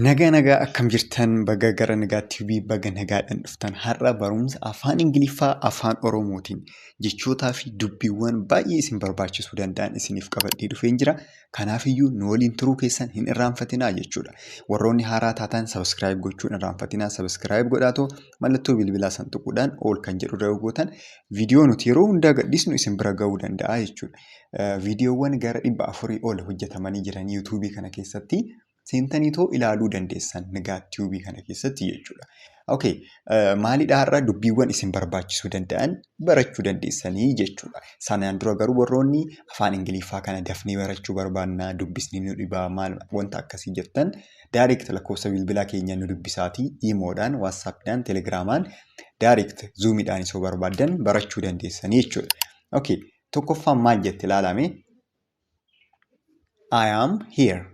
Nagaa nagaa akkam jirtan baga gara nagaa TV baga nagaadhaan dhuftan har'a barumsa afaan Ingiliffaa afaan Oromootiin jechootaa fi dubbiiwwan baay'ee isin barbaachisuu danda'an isiniif qabadhee dhufeen jira. Kanaafiyyuu nu waliin turuu keessan hin irraanfatinaa jechuudha. Warroonni haaraa taataan sabiskiraayib gochuun irraanfatinaa sabiskiraayib godhaatoo mallattoo bilbilaa san tuquudhaan ol kan jedhu irra yoo gootan viidiyoo nuti yeroo hundaa gadhiisnu isin bira ga'uu danda'a jechuudha. viidiyoowwan gara dhibba afurii ol hojjetamanii jiran yuutuubii kana keessatti seentanii too ilaaluu dandeessan nigaa tiibii kana keessatti jechuudha. Okay, uh, maalidha har'a dubbiiwwan isin barbaachisuu danda'an barachuu dandeessanii jechuudha. Sanaan dura garuu warroonni afaan Ingiliffaa kana dafnee barachuu barbaannaa dubbisni nu dhibaa maal wanta akkasii jettan direct lakkoofsa bilbilaa keenya nu dubbisaatii iimoodhaan, waatsaappiidhaan, telegiraamaan direct zuumiidhaan isoo barbaaddan barachuu dandeessanii jechuudha. Okay, Tokkoffaan maal jette ilaalame? I am here.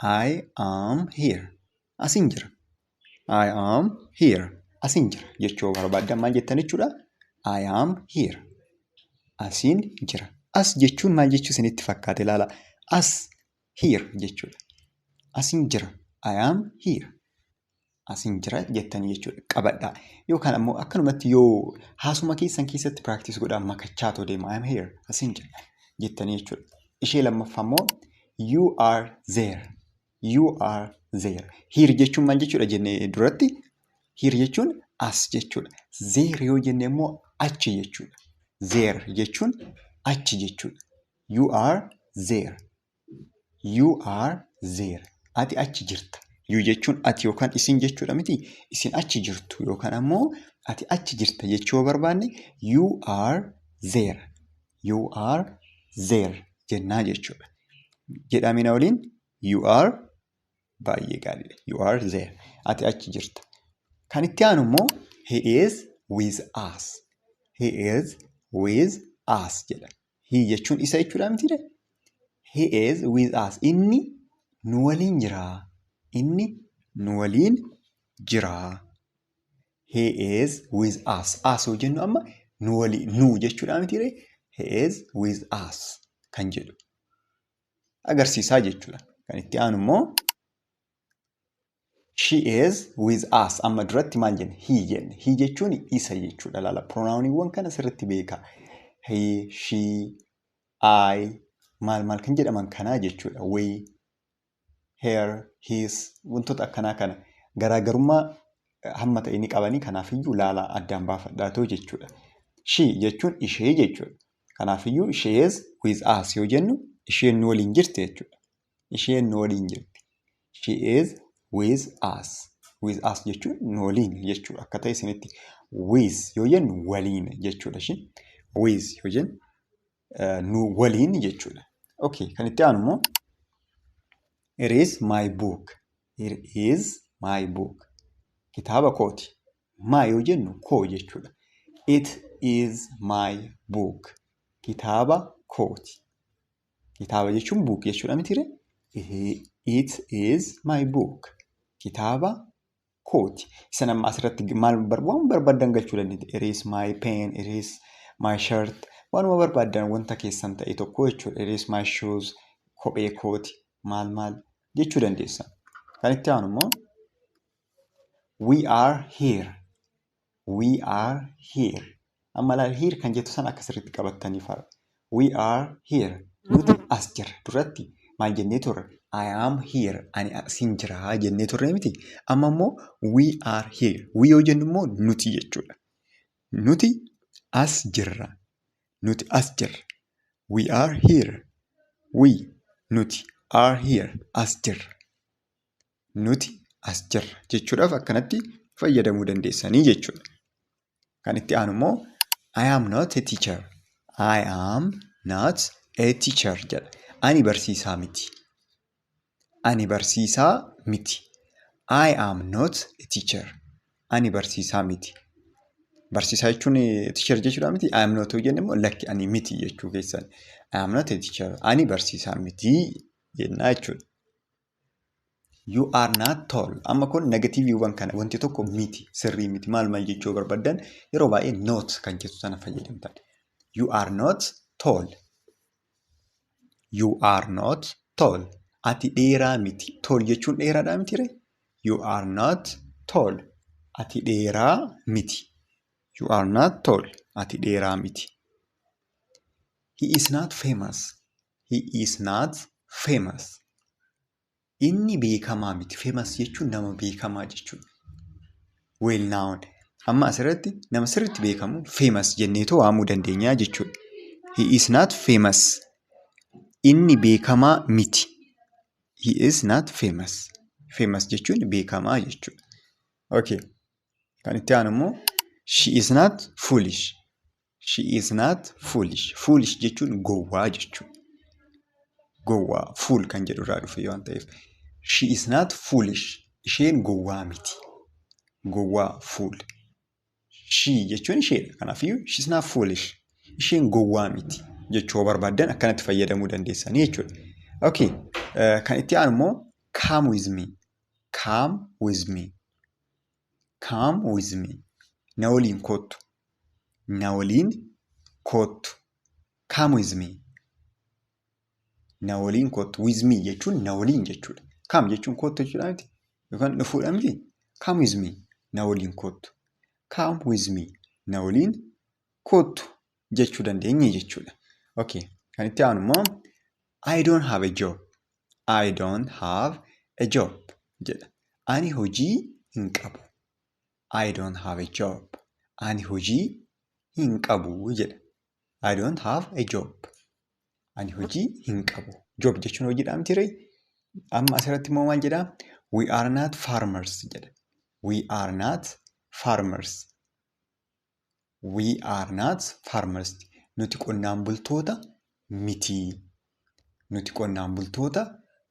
I am here. Asin jira. I am here. Asin jira jechuu barbaaddan maal jettan jechuudha? I am here. Asin jira. As jechuun maal jechuu isinitti fakkaate ilaala. As here jechuudha. Asin jira. I am here. asin jira jettanii jechuudha qabadha yookaan ammoo akkanumatti yoo haasuma keessan keessatti practice godhaa makachaa too deema I am here asin jira jettanii jechuudha ishee lammaffaa immoo you are there you are there here jechuun maal jechuudha jennee duratti here jechuun as jechuudha there yoo jenne immoo achi jechuudha there jechuun achi jechuudha you are there You are there. Ati achi jirta. You jechuun ati yookaan isin jechuudha miti. Isin achi jirtu yookaan ammoo ati achi jirta jechuu yoo barbaanne you are there. You are there jennaa jechuudha. Jedhamina waliin you are baay'ee gaariidha. You are there. Ati achi jirta. Kan itti aanu immoo he is with us. He is with us jedha. He jechuun isa jechuudha mitiire. He is with us. Inni nu waliin jira. Inni nu waliin jira. He is with us. As yoo jennu amma nu waliin nu jechuudha mitiire. He is with us kan jedhu agarsiisaa jechuudha. Kan itti aanu immoo She is with us. Amma duratti maal jenne? He jenne. He jechuun isa jechuudha. Laala pronaawuniiwwan kana sirriitti beeka. He, she, I maal maal kan jedhaman kanaa jechuudha. We, her, his wantoota akkanaa kana garaagarummaa hamma ta'e ni qabanii kanaafiyyuu laala addaan baafadhaatoo jechuudha. She jechuun ishee jechuudha. Kanaafiyyuu she is with us yoo jennu isheen nu waliin jirti jechuudha. Isheen nu waliin jirti. She is with us. With us jechuun nu waliin jechuudha. Akka ta'e isinitti with yoo jennu waliin jechuudha. Isheen with yoo jennu eh, nu waliin jechuudha. Okay, kan itti aanu immoo Here is my book. Here is my book. Kitaaba kooti. My yoo jennu koo jechuudha. It is my book. Kitaaba kooti. Kitaaba jechuun buuk jechuudha mitiire? It is my book. Kitaaba kooti. Isan amma asirratti maal waan barbaadan galchuu dandeetti. It is my pen, it is my shirt. Waanuma barbaadan wanta keessan ta'e tokko jechuudha. It is my shoes, kophee kooti, maal maal jechuu dandeessa. Kan itti aanu immoo we are here. We are here. Amma laal here kan jettu sana akka sirriitti qabattanii fara. We are here. Nuti as jirra. Duratti maal jennee turre? I am here. Ani asin jira jennee turre miti. Amma immoo we are here. We yoo jennu immoo nuti jechuudha. Nuti as jirra. Nuti as jirra. We are here. We nuti are here. As jirra. nuti as jirra jechuudhaaf akkanatti fayyadamuu dandeessanii jechuudha. Kan itti aanu immoo I am not a teacher. I am not a teacher jedha. Ani barsiisaa miti. Ani barsiisaa miti. I am not a teacher. Ani barsiisaa miti. Barsiisaa jechuun teacher jechuudha miti. I am not yoo jenne immoo lakki ani miti jechuu keessan. I am not a teacher. Ani barsiisaa miti jennaa jechuudha. You are not tall. Amma kun negatiiviiwwan kana wanti tokko miti sirrii miti maal maal jechuu barbaddan yeroo baay'ee not kan jettu sana fayyadamtan. You are not tall. You are not tall. Ati dheeraa miti. Tall jechuun dheeraadhaa miti ree? You are not tall. Ati dheeraa miti. You are not tall. Ati dheeraa miti. He is not famous. He is not famous. Inni beekamaa miti. Famous jechuun nama beekamaa jechuudha. Well known. Amma asirratti nama sirriitti beekamu famous jenneetoo waamuu dandeenya jechuudha. He is not famous. Inni beekamaa miti. He is not famous. Famous jechuun beekamaa jechuudha. Okay. Kan itti aanu immoo she is not foolish. She is not foolish. Foolish jechuun gowwaa jechuudha. Gowwaa fool kan jedhu irraa dhufe waan ta'eef. She is not foolish. Isheen gowwaa miti. Gowwaa fool. She jechuun isheedha. Kanaafiyyuu she is not foolish. Isheen gowwaa miti jechuu yoo barbaaddan akkanatti fayyadamuu dandeessanii jechuudha. Okay. Uh, kan itti aanu immoo come with me. Come with me. Come with me. Na waliin koottu. Na waliin koottu. Come with me. Na waliin koottu. With me jechuun na waliin jechuudha. Come jechuun koottu jechuudha miti. Yookaan dhufuudha miti. Come with me. Na waliin koottu. Come with me. Na waliin koottu jechuu dandeenya jechuudha. Okay. Kan itti aanu immoo I don't have a job. I don't have a job jedha. Ani hojii hin qabu. I don't have a job. Ani hojii hin qabu jedha. I don't have a job. Ani hojii hin qabu. Job jechuun hojiidha miti ree? Amma asirratti immoo maal jedha? We are not farmers jedha. We are not farmers. We are not farmers. Nuti qonnaan bultoota miti. Nuti qonnaan bultoota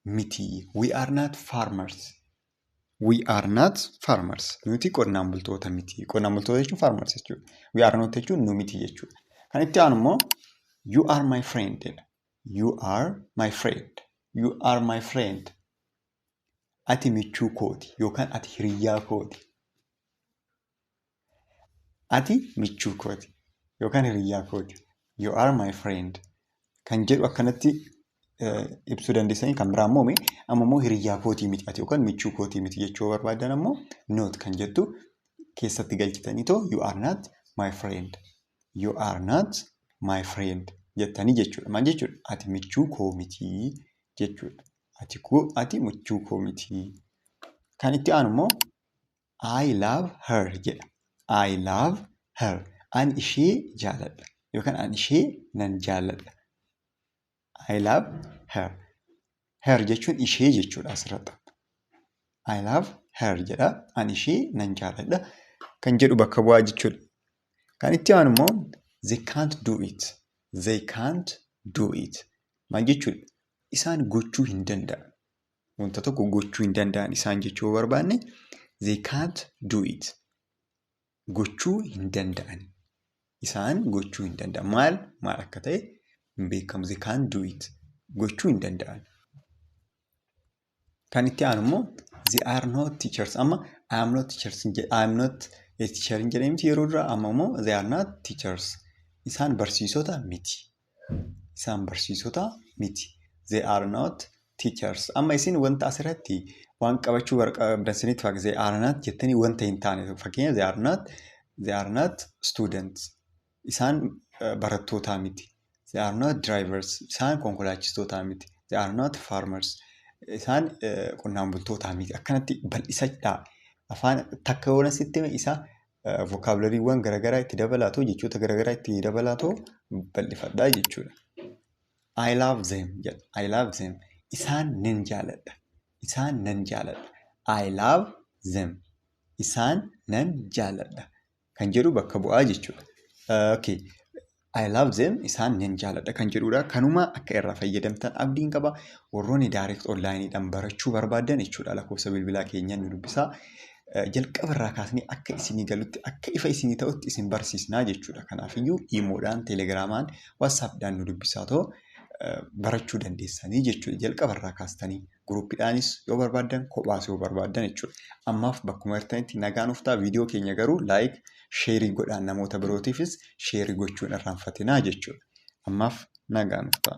miti. We are not farmers. We are not farmers. Nuti qonnaan bultoota miti. Qonnaan bultoota jechuun farmers jechuudha. We are not jechuun nu miti jechuudha. Kan itti aanu immoo you are my friend jedha. You are my friend. You are my friend. Ati michuu kooti yookaan ati hiriyyaa kooti. Ati michuu kooti yookaan hiriyyaa kooti. You are my friend. Kan jedhu akkanatti ibsuu dandeessanii kan biraa immoo amma immoo hiriyyaa kootii miti ati yookaan michuu kootii miti jechuu barbaadan ammoo not kan jettu keessatti galchitanii too you are not my friend. You are not my friend jettanii jechuudha. Maal jechuudha? Ati michuu koo miti jechuudha. Ati koo ati michuu koo miti. Kan itti aanu immoo I love her jedha. I love her. An ishee jaaladha. Yookaan an ishee nan jaaladha. I love her. Her jechuun ishee jechuudha asirratti. I love her jedha. An ishee nan jaaladha. Kan jedhu bakka bu'aa jechuudha. Kan itti aanu immoo they can't do it. They can't do it. Maal jechuudha? Isaan gochuu hin danda'an. Wanta tokko gochuu hin danda'an isaan jechuu yoo barbaanne they can't do it. Gochuu hin danda'an. Isaan gochuu hin danda'an. Maal maal akka ta'e hin beekamu. They can't do it. Gochuu hin danda'an. Kan itti aanu immoo they are not teachers. Amma I am not teachers. I am not a teacher hin jedhamti yeroo dura amma immoo they are not teachers. Isaan barsiisota miti. Isaan barsiisota miti. They are not teachers. Amma isin wanta asirratti waan qabachuu barbaadan sinitti fakkaata. They are not jettanii wanta hin taane fakkeenya they are not they are not students. Isaan eh, barattootaa miti. They are not drivers. Isaan konkolaachistootaa miti. They are not farmers. Isaan eh, qonnaan bultootaa miti. Akkanatti bal'isadhaa. Afaan takka yoona sitti hime isa vokaabulariiwwan garaagaraa itti dabalaatoo jechoota garaagaraa itti dabalaatoo bal'ifadhaa jechuudha. I love them jedha. I love them. Isaan nan jaaladha. Isaan nan jaaladha. I love them. Isaan nan jaaladha. Kan jedhu bakka bu'aa jechuudha. Uh, okay. I love them isaan nan jaaladha kan jedhudha. Kanuma akka irraa fayyadamtan abdiin qaba. Warroonni direct online dhaan barachuu barbaaddan jechuudha lakkoofsa bilbilaa keenyaan nu dubbisaa. Eh, Jalqaba irraa kaasnee akka isinii galutti akka ifa isinii ta'utti isin barsiisnaa jechuudha. Kanaafiyyuu iimoodhaan, telegiraamaan, whatsappdhaan nu dubbisaa too eh, barachuu dandeessanii jechuudha. Jalqaba irraa kaastanii. Guruuppiidhaanis yoo barbaaddan kophaas yoo barbaaddan jechuudha. Ammaaf bakkuma jirtanitti nagaan uftaa viidiyoo keenya garuu laayik sheerii godhaan namoota birootiifis sheerii gochuun irraanfatinaa jechuudha. Ammaaf nagaan uftaa.